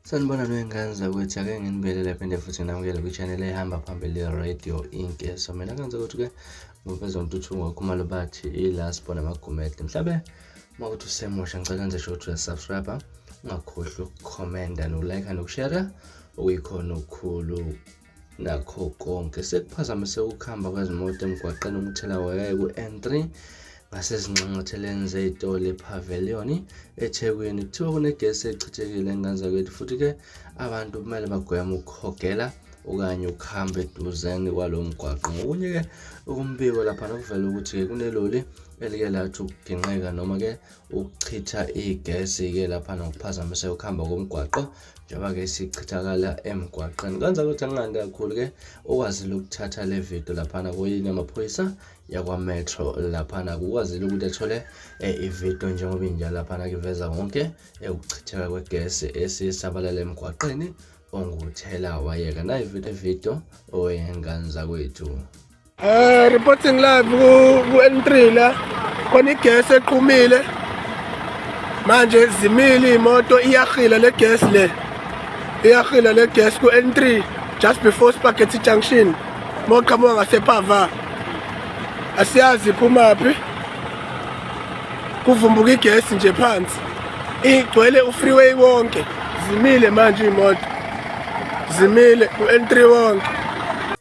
Sanibona lwengane zakwethu ake nginibelele phinde futhi namukele kwi-channel ehamba phambili radio inc so mina kanze ukuthi-ke ngobezontuthuko khumalo bathi i-last bona amagumede mhlabe uma kuthi usemusha ngicela nje sho ukuthi uyasubscribe ungakhohlwa ukukhomenda nokulike nokushera okuyikhona okukhulu Nakho konke sekuphazamise ukuhamba kwezimoto emgwaqeni umthelawaya ku-N3 ngasezinxanxatheleni zey'tolo ePavilion eThekwini. Kuthiwa kunegesi echithekile enganzakwethu futhi-ke abantu kumele bagweme ukuhogela okanye ukuhamba eduzane kwalo mgwaqo. Ngokunye-ke okumbiko lapha nokuvela ukuthi-ke kuneloli elike lathi ukugingqika noma-ke ukuchitha igesi-ke lapha nokuphazamiseka ukuhamba komgwaqo njengoba-ke sichithakala emgwaqeni kwenza ukuthi anginqandi kakhulu-ke okwazile ukuthatha le video laphana kuyini amaphoyisa yakwametro laphana kukwazile ukuthi athole eh, ividio njengoba injalo laphana kiveza konke eh, ukuchitheka kwegesi esisabalala emgwaqeni onguthela wayeka nayividiyo oyenganza kwethu Eh reporting live ku ku N3 la khona igas eqhumile manje zimile imoto iyahila le gas le iyahila le gas ku N3 just before Spaghetti Junction moqhamuka ngasephava asiyazi phumaphi kuvumbuka igesi nje phansi igcwele ufreeway wonke zimile manje imoto zimile u-N3 wonke